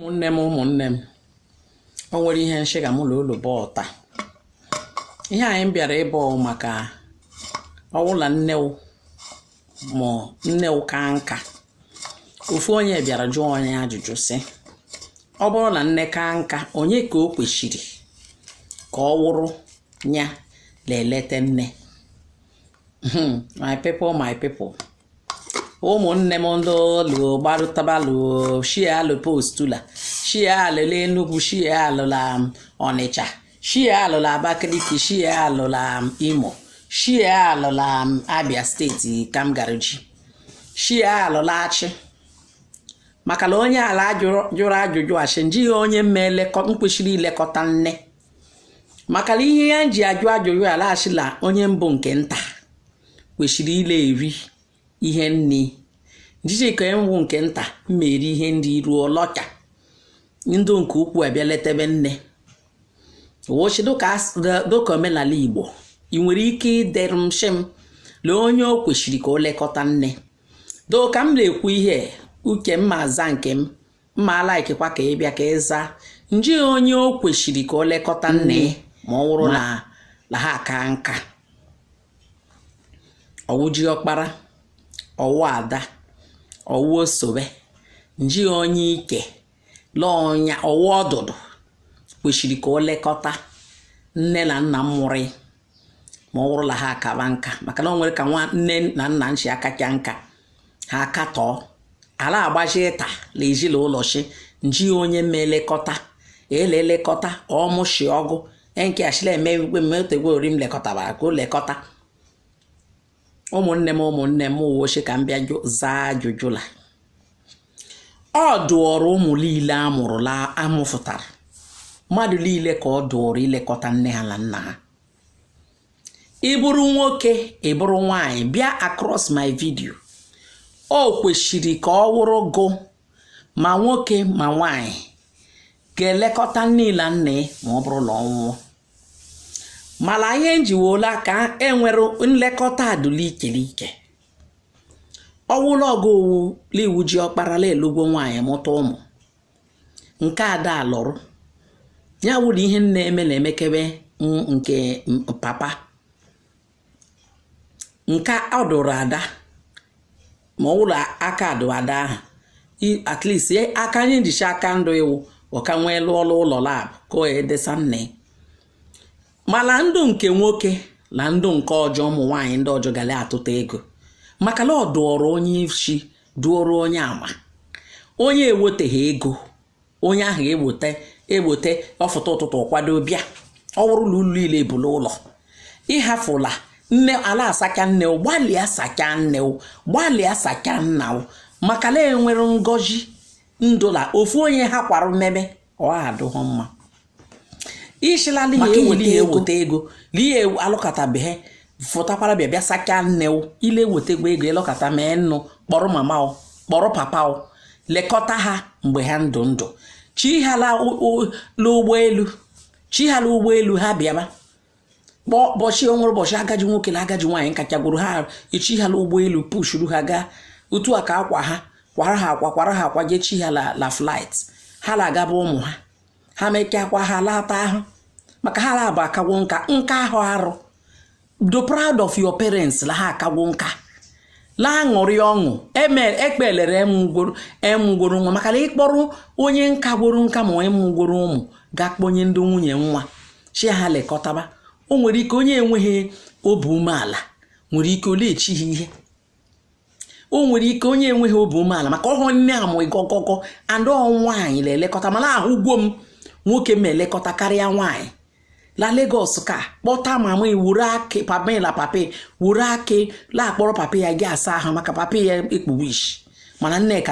ụmụnne m ụmụnne m o nwere ihe nshịga mụ na ụlọ bata ihe anyị bịara ibe maka ọwụla nne wụ ma nne wụ ka nka ofu onye bịara jụọ onye ajụjụ sị ọ bụrụ na nne ka nka onye ka o kwesịrị ka ọ wụrụ ya na-eleta nne hmm, my people my people ụmụnne m ndị olu gbarụtabalụ shie alụ postula shie alụla Enugu shie alụla um, Ọnịcha shie alụla Abakaliki shie alụla um, Imo shie alụla um, Abia steeti ka m gara ji shie alụla achị maka na onye ala jụrụ ajụjụ ashị nji onye mma nkwesịrị ilekọta nne maka na ihe ya ji ajụ ajụjụ la ashị la onye bụ nke nta kwesịrị ile eri ihe nri nji ka ọ wụ nke nta ma eri ihe nri ruo lọcha ndị nke ukwu abịa letebe nne wọ shị dịka omenala igbo ị nwere ike idere m shị m lee onye o kwesịrị ka o lekọta nne dụ ka m na-ekwu ihe uke m ma aza nke m m ma alikekwa ka ị bịa ka ị zaa nji onye o kwesịrị ka o lekọta nne ma ọ wụrụ la ha aka nka ọ wụ ji ọkpara ọ wụ ada ọ wụ osobe nji onye ike lọnya ọ wụ ọdụdụ kwesịrị ka o lekọta nne na nna mụrụ ma ọ bụrụla ha akaba nka maka na ọ nwere ka nwa nne na nna nshi akacha nka ha akatọọ ala agbaji ịta na ezinụlọ shị nji onye ma elekọta ele elekọta ọmụshi ọgụ enke ashịla eme igwe mmetegwe ori m lekọtara ka o lekọta ụmụnne m ụmụnne m wọ shị ka m bịa zaa ajụjụ la ọ dụọrọ ụmụ niile amụrụla amụfụtara mmadụ niile ka ọ dụọrọ ilekọta nne ha na nna ha ị bụrụ nwoke ị bụrụ nwanyị bịa across my video o kwesịrị ka ọ wụrụ gụ ma nwoke ma nwanyị ga-elekọta nne na nna ma ọ bụrụ na ọ nwụọ mana ihe njiwola ka enwere nlekọta dụ l'ike l'ike ọwụla ọ ga-awụ la ị wụ ji ọkpara la ị lụgwo nwaanyị mụta ụmụ nke ada alụrụ ya wụrụ ihe nna eme na-emekebe nke papa nke ọ dụrụ ada ma ọ wụrụ aka dụ ada ahụ at least aka anyị njicha aka ndụ iwu ọka nwee lụọ ọrụ ụlọ lab ka o edesa nna ya mana ndụ nke nwoke na ndụ nke ọjọ ụmụ nwaanyị ndị ọjọ ga la-atụta ego maka na ọ dụọrọ onye isi dụọrọ onye ama onye eweteghị ego onye ahụ egbote egbote ọ fụta ụtụtụ ọ kwado bịa ọ bụrụ na ulu ile bu n'ụlọ ịhafụla nne ala asacha nne gbalịa sacha nne gbalịa sacha nna maka na enwere ngozi ndọ la ofu onye ha kwara mmeme ọ adụghọ mma i shi la n'ihi Maka eweta ihe ego. eweta ego na ihe ewu- alụkọtabeghị fụtakwara bịa bịa sachaa nne o ile ewetekwa ego ị lọkọta mee nnụ kpọrọ mama o kpọrọ papa o lekọta ha mgbe ha ndụ ndụ chi ha la ụ- ụ- la ụgbọelu chi ha la ụgbọelu ha bịaba kpọọ ụbọchị o nwere ụbọchị agaji nwoke na agaji nwaanyị nkachagwuru ha e chi ha la ụgbọelu pushuru ha gaa otu a ka akwa ha kwara ha akwa kwara ha akwa jee chi ha la la flight ha la agaba ụmụ ha ha mekakwa ha lata ahụ maka ha la-abụ a kagwo nka nka ahụ arụ dọ proud of your parents la ha akagwo nka la-aṅụrị ọṅụ ekpelere e mụgworo nwa maka na ị kpọrọ onye nkagworo nka ma onye mụgworo ụmụ ga kpọnye ndị nwunye nwa shi ha lekọtaba o nwere ike onye enweghị obi umeala nwere ike o lechi ha ihe o nwere ike onye enweghị obi umeala maka ọ wụhụ nne a mụ ịgọgọgọ and ọ nwaanyị la-elekọta mana ahụgwo m nwoke m elekọta karịa nwaanyị la Lagos ka kpọta mama la papa wuru akị la-akpọrọ papa ya ga-asa ahụ maka papa ya ekpuwe isi mana nneka